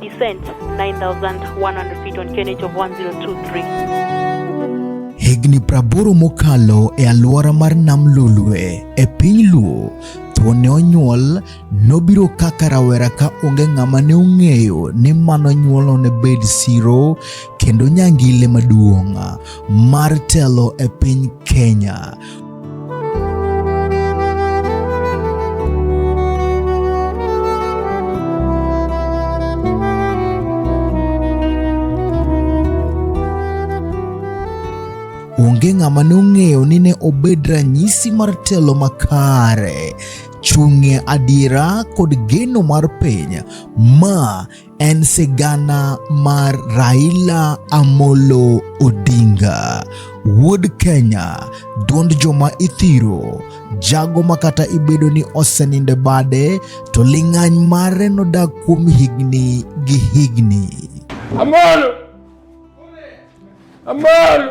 Descent 9100 feet on KNH of 1023. Higni praboro mokalo e alwora mar Nam Lolwe e piny Luo to ne onyuol nobiro kaka rawera ka onge ng'ama ne ong'eyo ni mano nyuolo ne bed siro kendo nyangile maduong' mar telo e piny Kenya. onge ng'ama nong'eyo ni ne obed ranyisi mar telo makare chung'e adiera kod geno mar piny ma en sigana mar Raila Amolo Odinga, wuod Kenya, duond joma ithiro, jago ma kata ibedo ni oseninde bade to ling'any mare nodak kuom higni gi higni. Amolo! Amolo!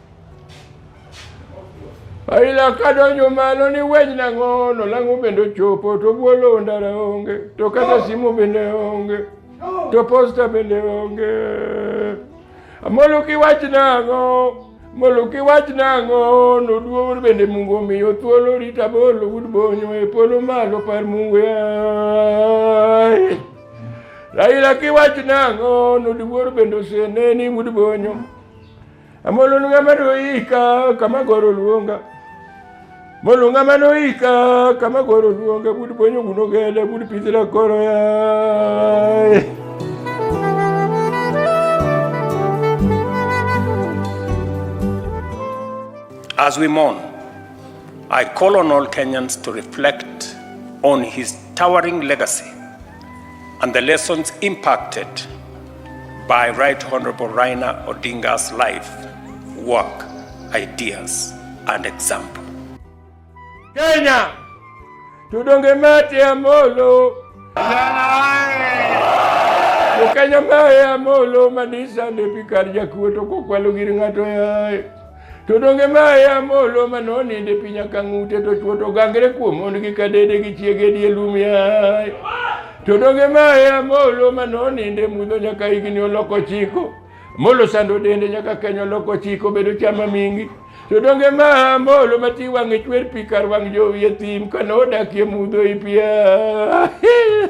Aila kadonjo malo ni wej nang'o nolang'o bende ochopo to bwolo ndara onge to kata simu bende onge to posta bende onge moluki wach nang'o moluki wach nang'o noduo bende mungu omiyo thuolo rita bolo wud bonyo e polo malo par mungu yaye Aila kiwach nang'o noduor bende oseneni wud bonyo Amolonu ng'ama noyika kama goro luonga molunga manoika kama goro luonga bud ponyo guno gele bud pithila koro yaye As we mourn, I call on all Kenyans to reflect on his towering legacy And the lessons impacted by Right Honorable Rainer Odinga's life, work, ideas, and example. Kenya, tudonge mate ya molo. Ukenya mae ya molo madisa ndepi kar jakuo to kokwalo gir ng'ato yaye. To donge ma e amolo ma noninde piny akang'ute to chwo to gangre kuom mondgi ka dede gi chiege die lum yaye to donge ma e amolo ma noninde mudho nyaka higni oloko chiko molo sando dende nyaka kenyo oloko chiko bedo chama mingi to donge ma amolo ma ti wang'e chwer pi kar wang' jowi e thim ka nodakie mudho i pia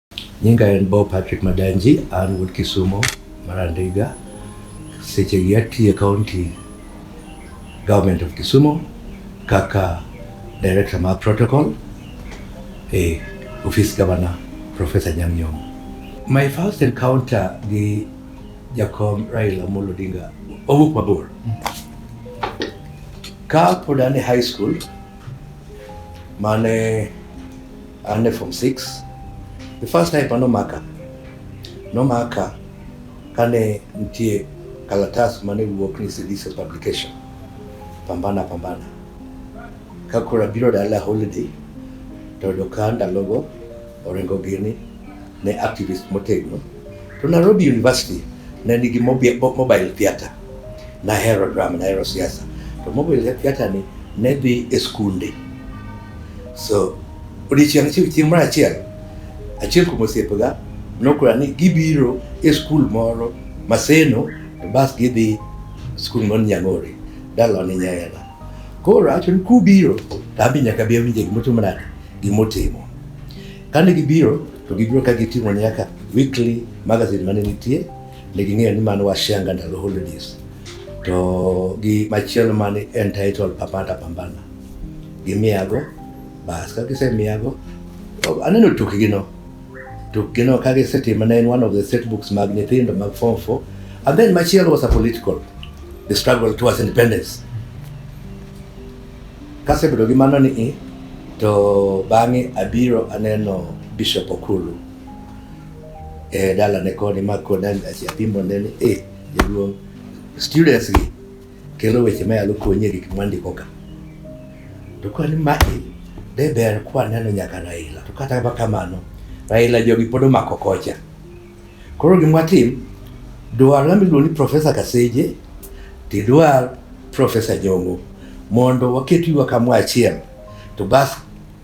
Nyinga en Bo Patrick Madanji, an wuod Kisumo mar Andiga. Seche gi atiye County Government of Kisumo kaka Director mar Protocol e Office Governor Professor Nyang' Nyong'o. My first encounter gi Jakom Raila Amolo Odinga owuok mabor. Ka pod an e high school mane under form 6 the first time pa nomaka nomaka kane nitie kalatas mane wuok ni Sidiso publication pambana pambana kakura biro dala holiday to doka ndalogo oringo gini ne activist motegno to Nairobi University ne nigi mobile theater. Nahero drama, nahero siasa to mobile theater ni ne dhi e skunde. So odiechieng' achiel chieng' moro achiel achiel kuom osiepega nokora ni gibiro e skul moro Maseno to bas gidhi skul moro Nyang'ori dalawa ni Nyayela. Koro awacho ni kubiro to an be nyaka bi awinje gimotimo nade, gimotimo. Kane gibiro to gibiro ka giting'o nyaka weekly magazine mane nitie, ne ging'eyo ni mano Washanga ndalo holidays. To gi machielo mane entitled Papata Pambana. Gimiyago, bas ka gisemiyago, to aneno tukgino. Tukgino ka gisetimo ne en one of the set books mag nyithindo mag form four. And then machielo was a political, the struggle towards independence. Kasebedo gi mano ni i, to bang'e abiro aneno Bishop Okulu e dalane koni ma kona apimo ne ni e jaduong' students gi kelo weche ma yalo konyi e gik mwandiko ka. To kwani ma e de ber kwaneno nyaka Raila. To kata kamano Raila jogi pod omako kocha. Koro gima watim, dwarwa miluongo ni Profesa Kaseje to idwar Profesa Jongo mondo waket yuwa kamoro achiel to bas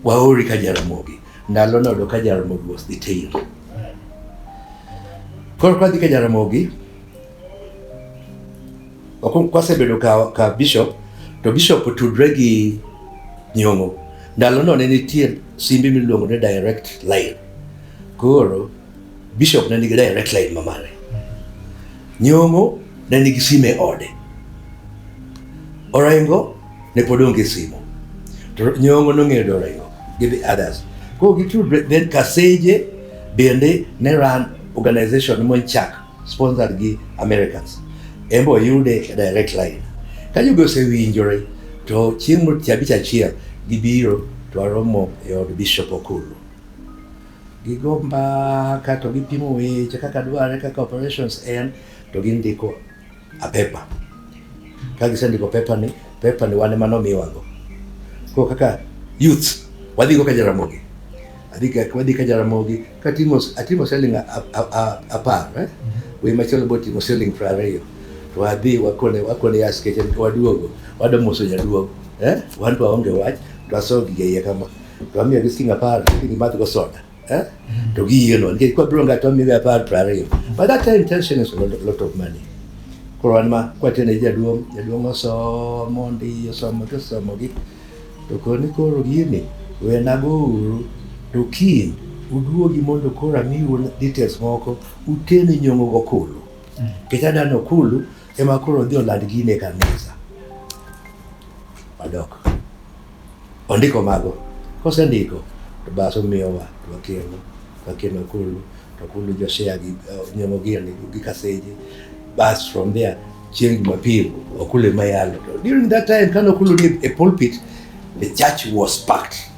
waori ka Jaramogi. Ndalo nodo ka Jaramogi was the tail. Koro kwadhi ka Jaramogi, ok- kwasebedo ka, ka bishop to bishop otudre gi Nyong'o. Ndalono ne nitie simbe miluongo ni direct line. Koro Bishop ne nigi direct line ma mare. Nyong'o ne nigi sime e ode. Orengo ne pod onge simo. To Nyong'o nong'eyo ni Orengo gi the others. Koro gitudre then Kaseje bende ne run organization monchak sponsored gi Americans. En be oyude e direct line. Ka jogi osewinjore to chieng' moro tich abich achiel gibiro to waromo e od Bishop Okulu. Gigo mbaka to gipimo weche kaka dwarore kaka operations en to gindiko a paper. Ka gisendiko paper ni, paper ni wan ema nomiwago. Koro kaka youth wadhigo ka Jaramogi wadhi ka Jaramogi katimo atimo selling apar eh? Mm-hmm. Wei machielo botimo selling piero ariyo to wadhi wakone wakone ya skeche waduogo wadomoso nyaduogo eh? Wan to waonge wach to wasoyo gige iye kama to wamiyogi siling' apar gidhi gimadhgo soda eh? to giyieno nikech kwabiro ng'ato wamiyogi apar piero ariyo but that time ten shillings was a lot of money koro wan ma kwatene jaduong' jaduong' osomo ndi osomo to osomogi to koni koro gini wenago uru to kiny uduogi mondo koro amiu details moko utene nyong'o gokulu nikech adano kulu ema koro dhi oland gine kanisa wadok Ondiko mago. Kosendiko to bas omiyowa to wakeno. Wakeno Akulu to Akulu jo share gi uh, Nyamo Gini gi Kaseji. Bas from there chieng' Jumapil Akulu ema yalo. To during that time kane Akulu ni e pulpit the church was packed.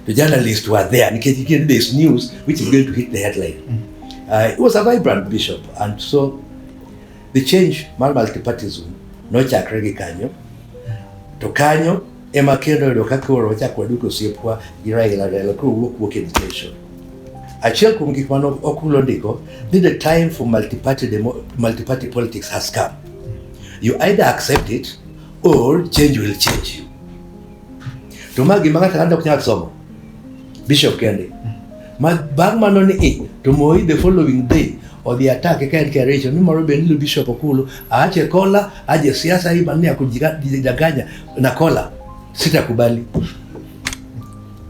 The journalists were there nikech again there's news which is going to hit the headline. Uh, it was a vibrant bishop and so The change mar multipartism nochakre gi kanyo to kanyo ema kendo yudo ka koro wachako waduto osiepwa gi Raila Raila koro wuok wuok education achiel kuom gik mano okulo ndiko ni the time for multiparty, demo, multiparty politics has come you either accept it or change will change you to ma gima ng'ato ang'ata ok nyal somo Bishop kende. Ma bang' mano ni i to Moi the following day odhi attack ka en Kericho ni moro be ni Bishop Okulu aache kola aje siasa hii maneno ya kujidanganya na kola sitakubali.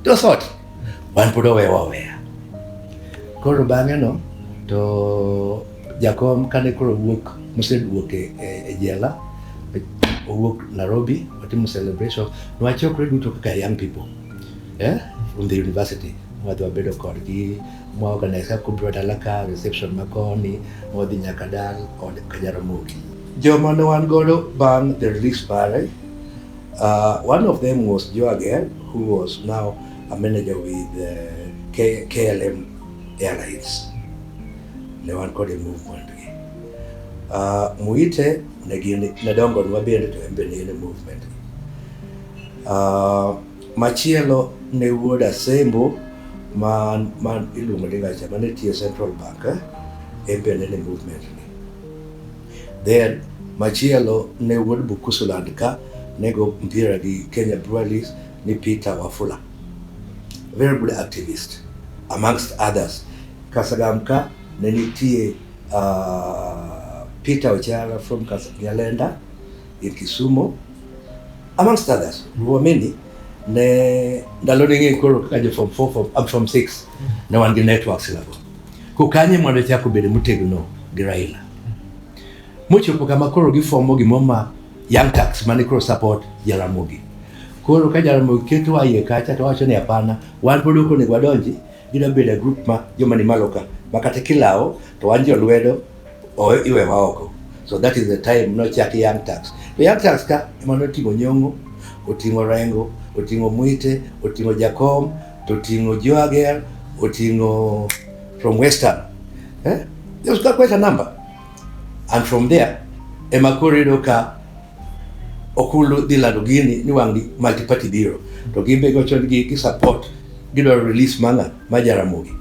To sort wan pod owewa oweya. Koro bang'e no to jakom kane koro wuok moseduok e, e, e jela owuok Nairobi watimo celebration nwachokre duto kaka young people eh, from the university wadhi wabedo kodgi mwaorganise kumbiro dala ka reception makoni mwadhi nyaka dal kod kajaramogi joma ne wan godo bang the release pare uh, one of them was joe again who was now a manager with uh, K klm airlines ne wan kod e movement gi uh, muite ne gin ne dongo nwa bende to en be ne en e movement gi Uh, machielo ne wuod Asembo ma, ma iluongo ni Gacha mane tiyo Central Bank eh? en be nene movement ni. Then machielo ne wuod Bukusuland ka nego mpira gi Kenya Breweries ni Peter Wafula. Very good activist amongst others. Kasagam ka ne nitie uh, Peter Ojala from Kas- Nyalenda in Kisumo Amongst others, were many ne ndalo ni ng'e koro kaka jo form 4 form up from 6 ne wan gi networks lago. Ko kanye mondo chak obedo motegno gi Raila. Mochopo kama koro gifomo gimoro ma Young Turks mane koro support Jaramogi. Koro ka Jaramogi keto wa iye kacha to wacho ni hapana, wan pod ok onego wadonji Gida beda group ma joma ni malo ka ma kata kilawo to wan jolwedo o iwewa oko so that is the time nochak young tax to young tax ka ema noting'o nyong'o oting'o rengo oting'o mwite oting'o jakom to oting'o joager oting'o from western eh? just ka kweta number and from there ema koro iyudo ka Okulu dhi lando gini ni wang' multi party biro to gin be gocho gi gi support gidwaro release manga ma Jaramogi.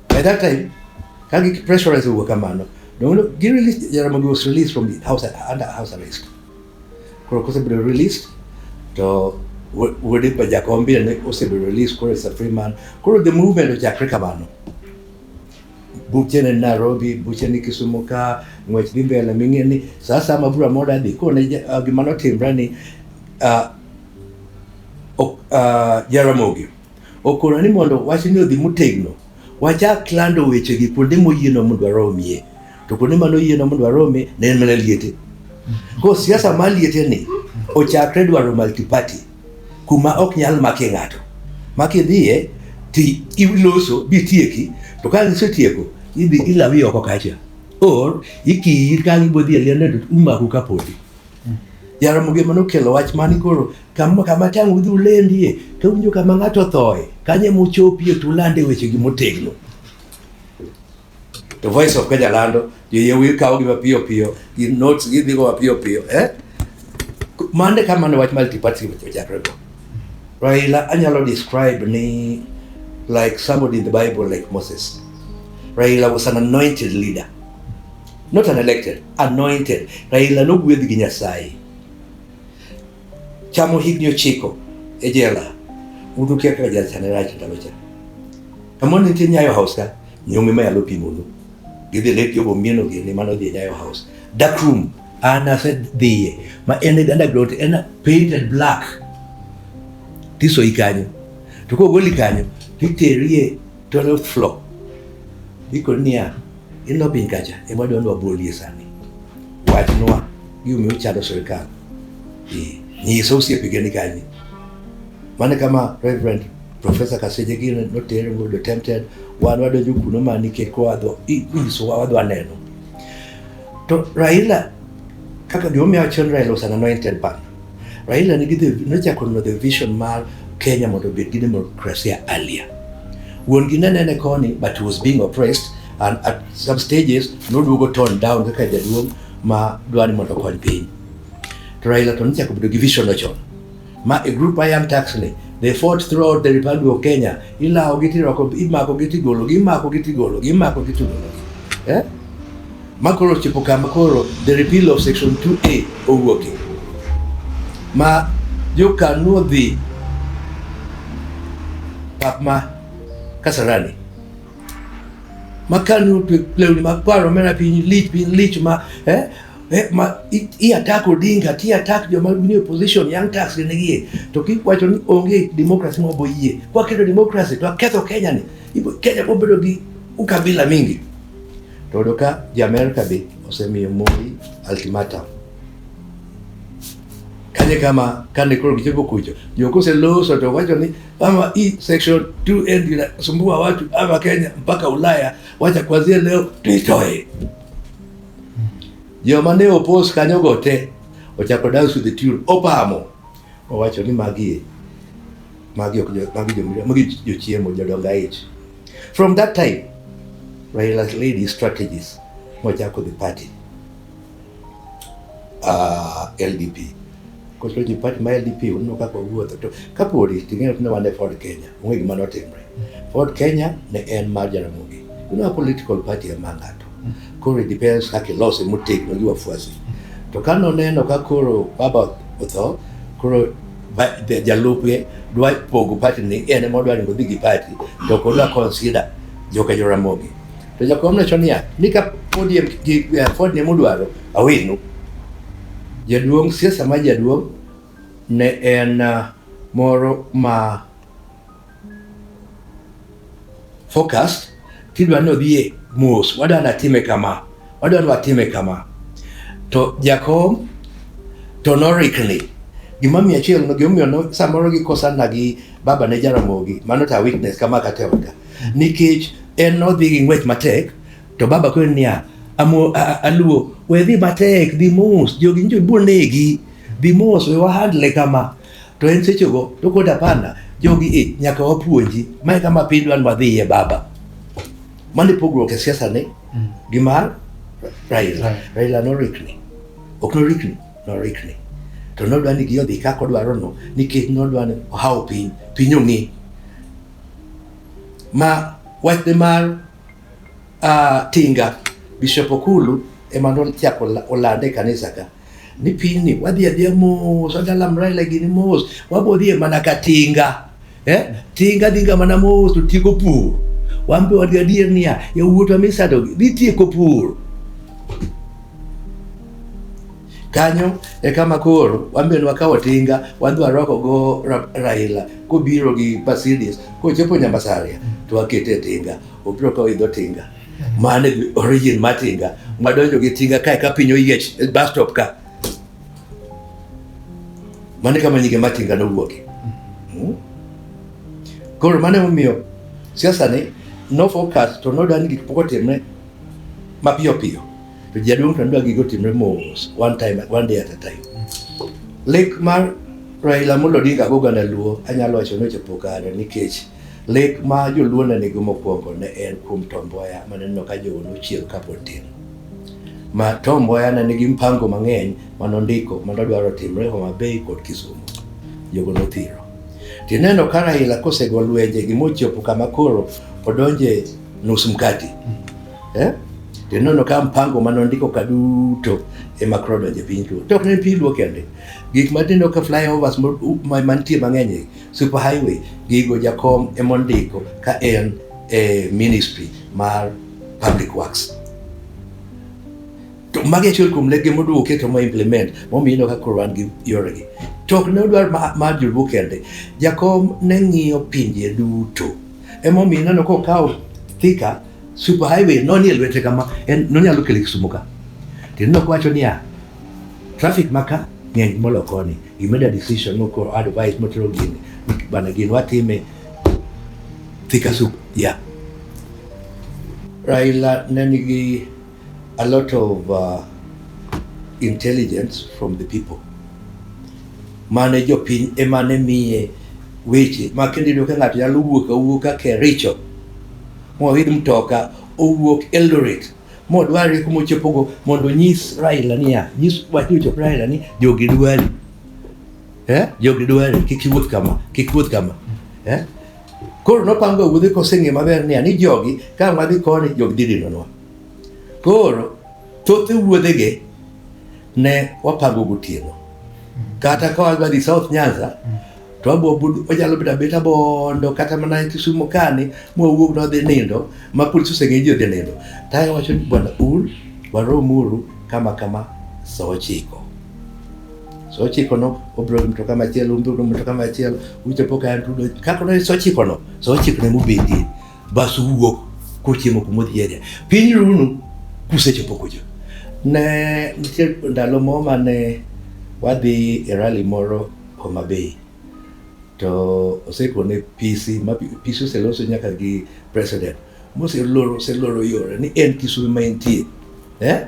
By that time ka gi pressurize wuok kamano donge gi release Jaramogi was released from the house under house arrest. Koro kosebedo released to wuode pa Jakom bende osebedo released koro is a free man. Koro the movement ochakre kamano. buche ni Nairobi, buche ni Kisumu ka, ng'wech dhi mbele ming'e ni sa asaya ma bura moro adhi koro ne ja- ah, gima notimre ni ah, ok- ah, Jaramogi okona ni mondo wachni odhi motegno wachak lando wechegi kuonde moyieno mondo waromie to kuonde mane oyieno mondo waromie ne en mana liete koro siasa mar liete ni ochakre dwaro multiparty kuma ok nyal makie ng'ato ma kidhiye ti iloso bitieki to ka isetieko idhi ilawi oko kacha or ikiyi ka gibodhi e liende to umaku ka podi Jaramogi ema nokelo wach mani koro kama kama tang' udhi ulendie to winjo kama ng'ato othoe kanye muchopie tulande wechegi motegno To Voice of Kenya lando, joyie kawogi mapiyo piyo, gi notes gidhigo mapiyo piyo. Eh? Mande ka mane wach multiparty ochakre go. Raila anyalo describe ni like somebody in the Bible like Moses. Raila was an anointed leader. Not an elected, anointed. Raila nogwedh gi Nyasaye. chamo higni ochiko e jela udu kia kaka jachane rach ndalo cha kamon nitie nyayo house ka nyonge ma yalo pimonu gidhi lek jogo mieno gini mano dhi e nyayo house dark room an asedhiye ma en underground en painted black tisoyi kanyo to kogoli kanyo titerie 12th floor ikoni niya In no piny kacha ema dwani wabolie sani. Wachnwa gimomiyo uchando sirkal. Eh, nyisa osiepige ni kanyo. Mane kama Reverend Professor Kaseje gino notere mondo tempted wan wadonjo kuno ma nikech kwa dho i- inyisowa wadwa neno. To Raila Kaka gimomiyo awacho ni Raila was an anointed partner. Raila nigi the nochako no the vision mar Kenya mondo obed gi demokrasia earlier. Wuon gi ne nene koni but he was being oppressed and at some stages noduogo tone down kaka jaduong' ma dwani mondo okony piny. To Raila to nochako bedo gi vision no chon. Ma a group I am taxly. They fought throughout the Republic of Kenya. Ilawo gi tirwako, imako gi tigolo gi, imako gi tigolo gi, imako gi tigolo gi. Eh? Ma koro chipo kama koro the repeal of section 2A owuoke. Ma jokanu odhi pap ma Kasarani. makanu lewni mag paro mena piny lich piny lich ma eh, eh, ma i attack Odinga ti attack joma ni opposition young tax ne gie to ki wacho ni onge democracy ma bo yie kwa kedo democracy to aketho Kenya ni ibo Kenya bo bedo gi ukabila mingi to doka ja America be osemiyo Moi ultimatum kanye kama kane koro gichopo kucho jokose loso to wacho ni ama hii section 2N inasumbua watu ama Kenya mpaka Ulaya, wacha kuanzia leo tuitoe. Jomane opos kanyo go te ochako dance with the tune opamo owacho ni magi magi ok jo- magi jo- magi jochiemo jodongo aich. From that time Raila's lady strategies mochako the party uh, LDP. Koso ji party ma LDP uneno kaka owuotho to kapodi ting'eyo tinde wan e Ford Kenya, onge gima notimre. Ford Kenya ne en mar Jaramogi. Una political party ema ng'ato. Koro it depends kaka ilose motegno gi wafuasi. To ka noneno ka koro baba otho, koro ba- ja- jalupge dwa pogo party ni en ema odwa ni odhi gi party to ok odwa consider joka Jaramogi. To jakom nowacho niya, ni ka podi e- gi- eh, ford ne mudwaro awenu. Jaduong' siasa ma jaduong' ne en ah, moro ma focused tidwa ni odhiye mos, wadwa ni atime kama, wadwa ni watime kama. To jakom to norikni gimomiyo achiel gimomiyo no- samoro gikosana gi baba ne jaramogi mano ta witness kama kata e odka nikech en nodhi gi ng'wech matek to baba kwe niya amo aluo we dhi matek dhi mos jogi njo biro negi dhi mos we wahandle kama to en sechego to kod apanda jogi e nyaka wapuonji mae kama piny dwan wadhiye baba mane pogruok e siasa ni mm. gi mar Raila right. Raila norikni ok norikni norikni to nodwa ni gi odhi kaka odwaro no nikech nodwa ni ohawo piny piny ong'e ma wachne mar uh, tinga Bishop Okulu ema nochako olande e kanisa ka ni pinyni wadhi adhiya mos wadalam Raila gini mos wabodhie mana ka tinga eh? tinga dhinga mana mos to tieko pur wan be wadgi adier niya yawuotwa misadogi dhi tieko pur Kanyo e kama koro wambe wakawo tinga wadhi warwako go Raila kobiro gi Mercedes kochopo Nyambasaria to wakete e tinga obiro kawo idho tinga mane origin ma tinga madonjo gi tinga kae ka piny oyiech e bus stop ka mane kama nyige ma tinga nowuoke hmm? koro mane omiyo siasa ni no focus to nodani gik pok otimre mapiyo piyo To jaduong' tandua gigo timre mos, one time, one day at a time. Lek mar Raila Amolo Odinga go gana Luo, anyalo wacho ni ochopo kare nikech lek ma joluo ne nigo mokwongo ne en kuom Tom Mboya ma neno ka jogo nochiel kapod tin. Ma Tom Mboya ne nigi mpango mang'eny ma nondiko ma nodwaro timre Homa Bay kod Kisumu. Jogo nothiro. Tineno ka Raila kosego lwenje gimochopo kama koro odonje nus mkati. eh? to ineno ka mpango mane ondiko ka duto ema koro donjo e piny luo to ok ne piny luo kende gik matindo ka flyovers mantie mang'eny super highway gigo jakom ema ondiko ka en e ministry mar public works to magi achiel kuom lege moduogo keto ma implement momiyo ineno ka koro wan gi yoregi to ok ne odwar mar joluo kende jakom ne ng'iyo pinje duto emomiyo ineno kokawo thika Super highway nonie lwete kama en nonyalo kele Kisumu ka. Tinno kwacho niya traffic maka ng'eny molo koni. You made a decision no koro advice motero gini. Bana gini watime Thika Sup. Yeah. Raila ne nigi a lot of uh, intelligence from the people mane jopiny emane miye weche ma kendo iyudo ka ng'ato nyalo wuok awuoka kericho moidh mtoka owuok Eldoret modware kuma ochopogo mondo onyis Raila niya, nyis wach ni ochop Raila ni jogi dwari eh? jogi dwari kik iwuoth kama kik iwuoth kama eh? koro nopango wuodhe koseng'e maber niya ni jogi ka wadhi koni jogi dhi dinonwa koro thoth wuodhege ne wapango gotieno kata ka wadhi South Nyanza to abuabudu onyalo bedo abeta bondo kata mana e Kisumo kani mwawuok nodhi nindo ma polis oseng'e ji odhi nindo tae wacho ni bwana un waromuru kama kama saa ochiko saa ochiko no obiro gi mtoka machielo obiro gi mtoka machielo uchopo ka antudo kaka no saa ochiko no saa ochiko ne mubedie bas uwuok kuchiemo kumodhi area piny runu kusechopo kucho ne nitie ndalo moro mane wadhi e rally moro Homa Bay to osekone PC ma PC oseloso nyaka gi president moseloro oseloro yore ni en Kisumo ma entie eh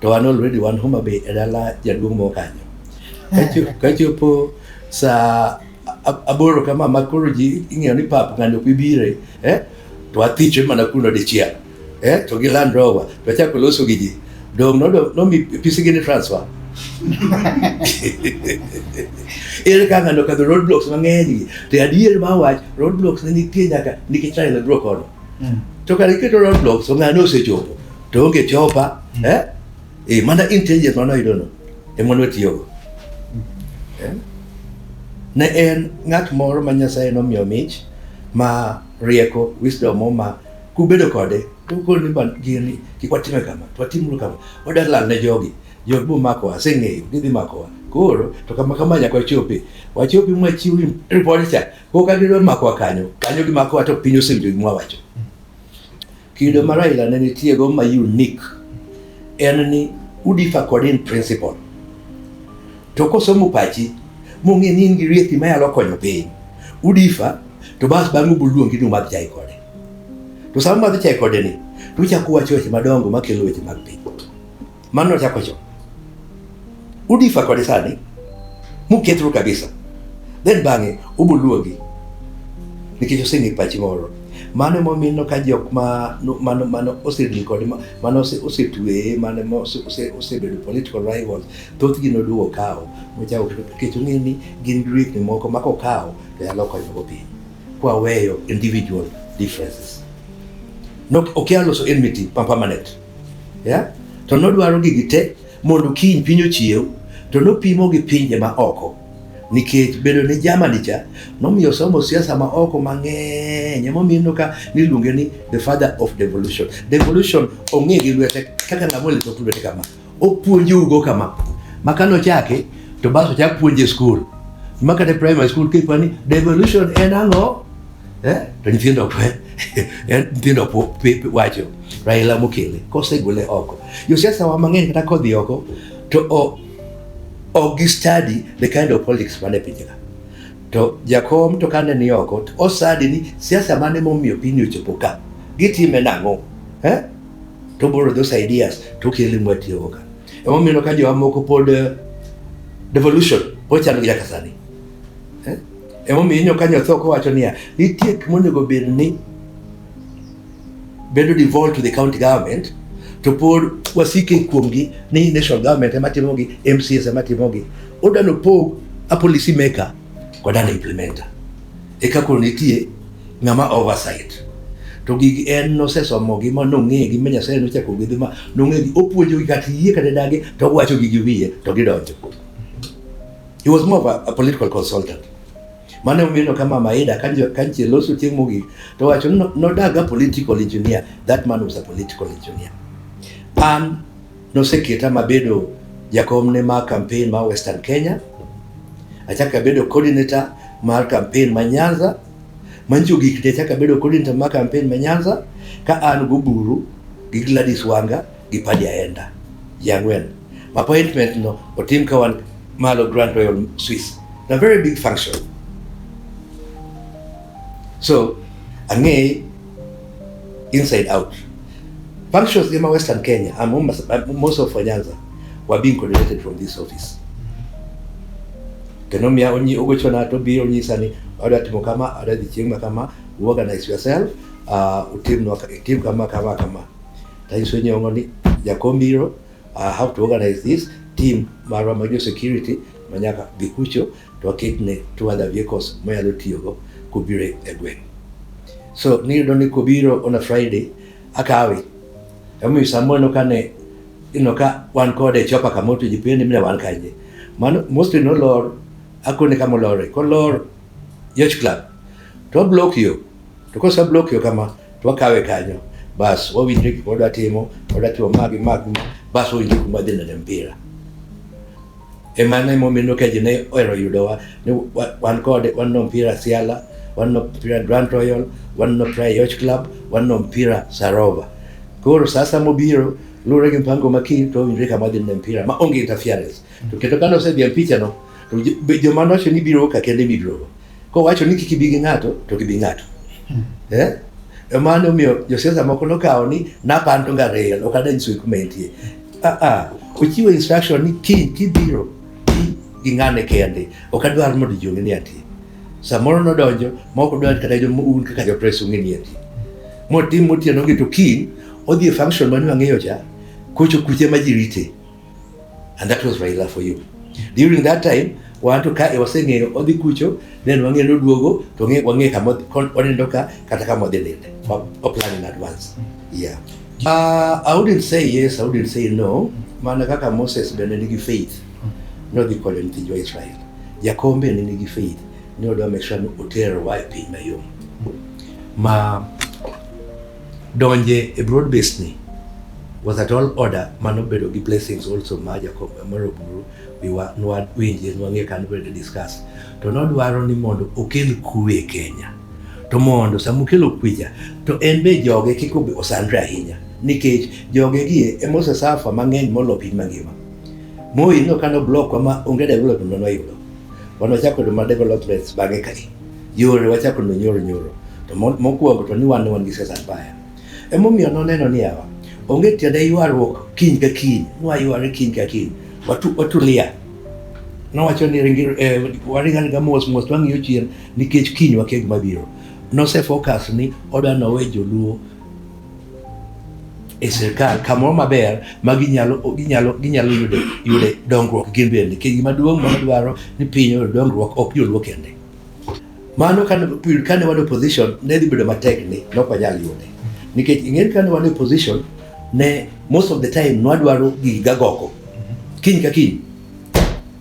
to an already wan Homa Bay e dala jaduong' moro kanyo kachopo sa aboro kama ma koro ji ing'eyo ni pap ng'ani ok bi bire eh to athichwe mana kuno dichiel eh to gi Land Rover to achako loso gi ji dong no no mi pisi gi ni transfer ere ka ng'ano kadho road blocks mang'eny gi to adier ma wach road blocks ne nitie nyaka nikech China dro kono hmm. to kare iketo road blocks to ng'ano osechopo to onge chopa hmm. eh e mana intelligence mana yudo no e mon watiyo go hmm. eh? ne en ng'at moro ma Nyasaye nomiyo mich ma rieko wisdom ma Kubedo kode, ukol ni man gini kik watime kama, to watimuru kama. Wadar lal ne jogi. Jog bu makowa, aseng'eyo, gidhi makowa. Koro, to kama kama nyaka wachopi. Wachopi mwa chiw report cha. Ko ka gidwa makowa kanyo, kanyo gimakowa to piny osewinjo gima wacho. Kido ma Raila ne nitie go ma unique en ni udifa kod in principle. To kosomo pachi, mong'e ni in gi rieki ma yalo konyo piny. Udifa, to bas bang'u buluongi ni umadh chai kode. To sama madhi chai kode ni, to uchako wacho weche madongo makelo weche mag piny. Mano ochako cho. Udifa kode sani, mukethru kabisa. Then bang'e, ubuluogi. Nikech oseng'e pachi moro. Mano momino ka jok ma mano mano osedil kode mano osetweye mano osebedo political rivals thothgi noduogo kawo mochako nikech ong'e ni gin riekni moko ma kokawo to nyalo konyogo piny. kwaweyo individual differences Nok- okia loso enmity pa permanent yeah? to nodwaro gigi te mondo kiny piny ochiew to nopimo gi pinje ma oko nikech bedo ni Germany cha nomiyo somo siasa ma oko mang'eny emomiyo ineno ka niluonge ni the father of devolution devolution ong'e gi lwete kaka ng'ama olito lwete kama Opuonjougo kama, ma ka nochake to bas ochak puonje skul ma kata primary school kipa ni devolution en ang'o eh? to nyithindo nyithindo wacho Raila mokele kosegole oko josiasa wa mang'eny kata kodhi oko to o ok gi study the kind of politics mane pinjega to jakom to kane ni oko osadi ni siasa mane momiyo piny ochopo ka gitime nang'o eh? to borrow those ideas to kele mwa tiyo go ka emo mino ka jo amoko pod eh, devolution pod chano gila kasani eh? emo mino ka nyotho ko wacho niya nitie kuma onego bed ni bedo devolved to the county government to pod wasike kuomgi ni national government ema timogi MCS ema timogi odano pog a policy maker kodano implementer Eka koro nitie ng'ama oversight. To gigi en nosesomogi ma nong'egi ma Nyasaye nochako gwedhe ma nong'egi opuonjogi kata yie kata dagi to owacho gi wiye to gidonjo. He was more of a, a political consultant. Mane omiyo kama Maida kanche loso chieng' mogik to wacho nodaga political engineer. That man was a political engineer. An Noseketa mabedo jakomne mar kampen ma Western Kenya, achako abedo coordinator mar kampen ma Nyanza, manyiso gik te achako abedo coordinator mar kampen ma Nyanza ka an goburu gi Gladys Wanga gi Paddy Aenda ji ang'wen. Appointment no otim ka wan malo Grand Royal Suites. Na very big function. so ang'eye inside out functions gima western kenya and most- uh, most of nyanza were being coordinated from this office kendo miya onyi ogochona to biro onyisa ni adwa timo kama adwa dhi chieng' ma kama you organize yourself uh, utimnwa ka- itim kama kama kama tanyiso nyong'o ni jakom biro uh, how to organize this team marwa ma jo security manyaka dhi kucho to waketne two other vehicles monyalo tiyogo kobiro e gweng'. So niyudo ni kobiro on a Friday akawe. Emomiyo samoro ineno ka ne ineno ka wan kode chopa kamoro to ji pende mina wan kanye. Mano mostly nolor akone kama olore. Kolor Yacht Club to wablock yo. To kosa block yo kama to wakawe kanyo. Bas wawinjre gik wadwa timo, wadwa timo magi magi bas wawinjre kuma dhi neno mpira. E mano ema omiyo Keje ne ohero yudowa ni wan kode wan no mpira Siala, wan no mpira Grand Royal, wan no mpira Yoch Club, wan no mpira Sarova. Koro sasa mobiro lure gi mpango ma kiny to winjre kama dhi ne mpira ma onge interference. To kendo kano osedhi e picha no to joma noche ni biro ka kende biro. Kowacho ni kik ibi gi ng'ato to gibi ng'ato. Hmm. Eh? E mano omiyo josiasa moko nokawo ni napanto nga rail ok adany swe kuma entie. Ah ah, ochiwo instruction ni kiny kibiro gi ng'ane kende ok adwar mondo ji ong'e ni ati. Samoro nodonjo ma ok odwar kata un kaka jopres ung'e ni ati. Motim otieno gi to kiny odhi e function mane wang'eyo cha kocho kuche ma ji rite. And that was Raila for you. During that time, wantu ka e waseng'eyo odhi kucho, then wang'eyo ni oduogo, to wang'e- wang'e kama odhi- kon- oneno ka kata kama odhi ninde. Wa- wa plan in advance. Yeah. Uh, I wouldn't say yes, I wouldn't say no. Mana kaka Moses bende nigi faith. Nodhi konyo nyithind jo Israel. Jakom bende nigi faith. Ne odwa make sure ni oterowa e piny mayom. Ma Donje e broad based ni was at all order mano bedo gi blessings also ma Jacob moro buru wiwa nwa winje nwa nge kan bedo discuss to no dwaro ni mondo okel kuwe Kenya to mondo samukelo kuja to en be joge kiko be osandre ahinya nikech joge gi e mose safa mang'eny molo piny mangima moyi no kano block ma onge development no yudo wano chako do ma developments bange kai Yore wachako no nyoro nyoro. To mokwongo to ni wan wan gi siasa mbaya. Emomiyo noneno ni yawa onge tiende ywaruok kiny ka kiny, nwayware kiny ka kiny. Watu, watulia. Nowacho ni ringi, eh, waring aringa mos mos twang'iyo chien nikech kiny wakia gima biro. Nose focus ni odwa nowe joluo e sirkal kamoro maber ma ginyalo ginyalo ginyalo yude yude dongruok gin bende. Nikech gima duong' ma dwaro ni piny oyud dongruok ok joluo kende. Mano kane period kane wan opposition ne dhi bedo matek ni ne ok wanyal yude. Nikech ing'eyo kane wan opposition ne most of the time nwadwaro gigi gagogo. Kiny ka kiny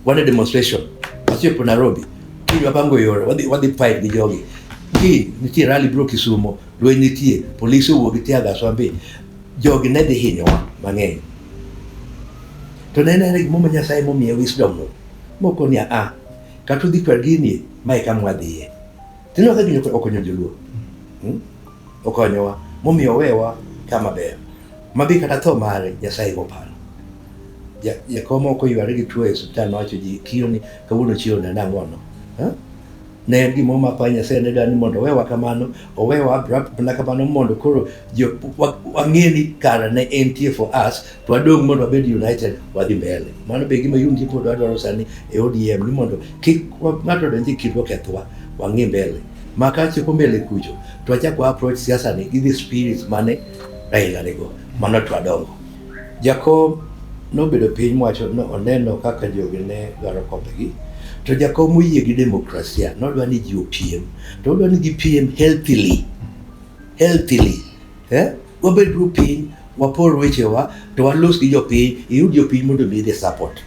wan e demonstration wachopo Nairobi kiny wapango yore wadhi wadhi fight gi jogi. Kiny nitie rally bro Kisumo lweny nitie polise owuok gi tear gas wambi jogi ne dhi hinyowa mang'eny. To ne en ane gimomiyo Nyasaye momiye wisdom no mokoni a a kata udhi kwa gini ma eka mwadhiye. Tineno ka gini okonyo joluo. Hmm? Okonyowa. Momiyo owewa kama ber. Mabi kata tho mare Nyasaye go paro. Ja, jakoma ok oyware gi tuo e osiptal nowacho ji kiro ni kawuono chiro ne nang'ono. Huh? ne en gima omako ahinya Nyasaye ne dwani mondo owewa kamano owewa mana kamano mondo koro wang'e ni kara ne entie for us wadong' mondo wabed united wadhi mbele. Mano be gima yundi pod wadwaro sani e ODM ni mondo kik ng'ato odonj e kindwa kethwa, wang'i mbele. Ma ka chopo mbele kucho, to wachak wa approach siasa ni gi the spirits mane Raila nigo. Mano to wadongo. Jakom nobedo piny mwacho no oneno kaka jogi ne dwaro kombegi. To jakom oyie gi demokrasia, nodwa ni ji opiem. To odwa ni gipiem healthily. Healthily. Eh? Wabedru piny, wapor wechewa, to walos gi jopiny, iyud jopiny mondo mi the support.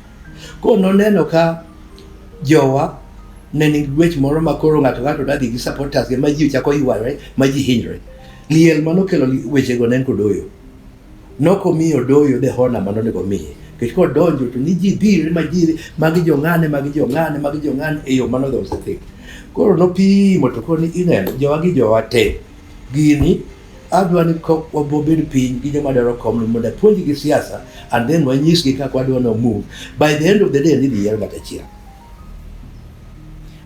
Koro noneno ka jowa ne nigi gwech moro ma koro ng'ato ng'ato nadhi gi supporters ma ji chako yware, ma ji hinyre. Liel ma nokelo wechego ne en Kodoyo. Nokomiyo Odoyo the honor ma nonego omiye. Nikech kodonjo to ni ji dhire ma ji magi jong'ane, magi jong'ane, magi jong'ane e yo mano dhosethe. Koro nopimo to koro ni ineno jowa gi jowa te gini adwa ni wabobed piny gi joma dwaro kom ni mondo apuonj gi siasa and then wanyisgi kaka wadwa no move by the end of the day nidhi yiero ng'at achiel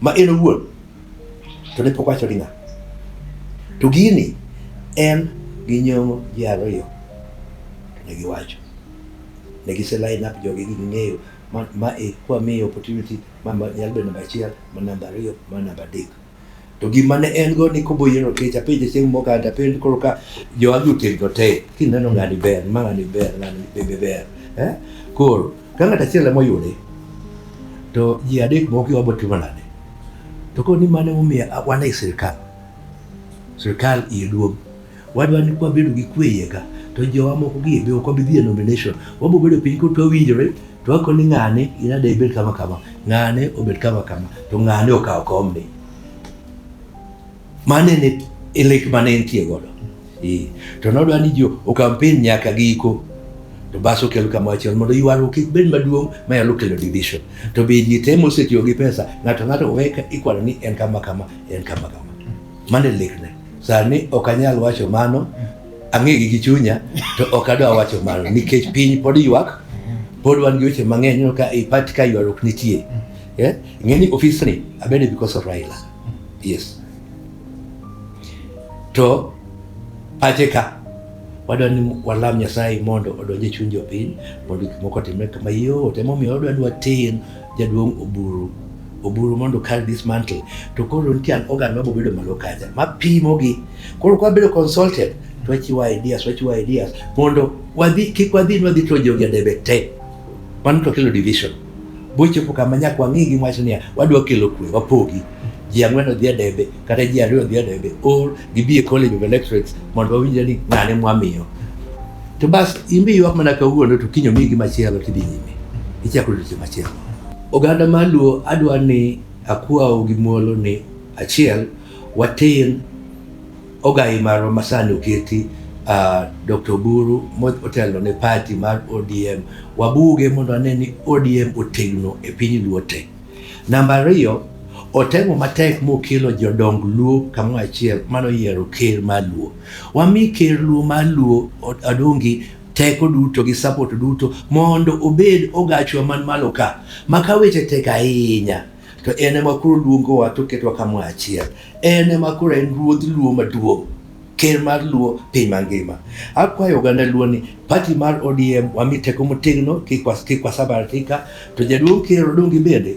ma en owuon to ne pok wacho ni ng'a to gini en gi nyong'o ji ariyo to ne giwacho ne gise line up jogi gi ging'eyo ma, ma e kwa miyo opportunity ma ma nyalo bedo namba achiel ma namba ariyo ma namba adek to gima ne en go ni kobo yiero kech apenje chieng' moko kata apenje koro ka jo agi otegno te kineno ng'ani ber ma ng'ani ber ng'ani bebe ber eh? koro ka ng'at achiel ema oyude to ji adek moko gi wabo timo nade to koro ni mano emomiyo a- wan e sirkal sirkal iye duong' Wadwa ni kwa bedo gi kwe iye ka to jowa moko gi be ok wabi dhi e nomination. Wabiro bedo piny kod twawinjore to wako ni ng'ane in ade ibed kama kama, ng'ane obed kama kama, to ng'ane okawo komni. Mane ne e lek mane entie godo. Eh, to nodwa ni jo okampeni nyaka giko to bas okel kama achiel mondo ywaruok kik bed maduong' manyalo kelo division. To be ji temo osetiyo gi pesa, ng'ato ng'ato weka ikwano ni en kama kama, en kama kama. Mane lekna. Sani ok anyal wacho mano, ang'egi gi chunya, to ok adwa wacho mano, nikech piny pod ywak, pod wan gi weche mang'eny, ineno ka i party ka ywaruok nitie. Yeah? Ing'e ni ofisni, abede because of Raila. Yes. To pache ka, wadwa ni walam Nyasaye mondo odonj e chuny jopiny, mondo gik moko otimre kama yot. Emomiyo wadwa ni water jaduong' Oburu oburu mondo kar dismantle to koro nitie an organ ma bobedo malo kacha ma pimo gi koro kwa bedo consulted to wachiwo ideas wachiwo ideas mondo wadhi kik wadhi nwadhi to jogi adebe te mano to kelo division bochopo kama nyaka wang'i gi wach niya wadwa kelo kwe wapogi ji ang'wen odhi adebe kata ji ariyo odhi adebe or gibi e college of electorates mondo wawinjre ni ng'ane mwamiyo to bas imbi ywak mana kawuono to kinyo migi machielo tidhi nyime ichako odiochieng' machielo Oganda mar Luo adwa ni akwau gi muolo ni achiel watin ogai marwa masani oketi uh, Dr. Oburu motelo ne party mar ODM wabuge mondo wane ni ODM otegno e piny Luo te. Namba ariyo otemo matek mokelo jodong Luo kamoro achiel mano yiero ker mar Luo. Wami ker Luo mar Luo Adongi teko duto gi support duto mondo obed ogachwa man malo ka ma ka weche tek ahinya to en ema koro luongowa to ketwa kamoro achiel en ema koro en ruodh luo maduong' ker mar luo piny mangima akwayo oganda luo ni pati mar odm wami teko motegno kik was- kik wasabaratika to jaduong' ker odongi bende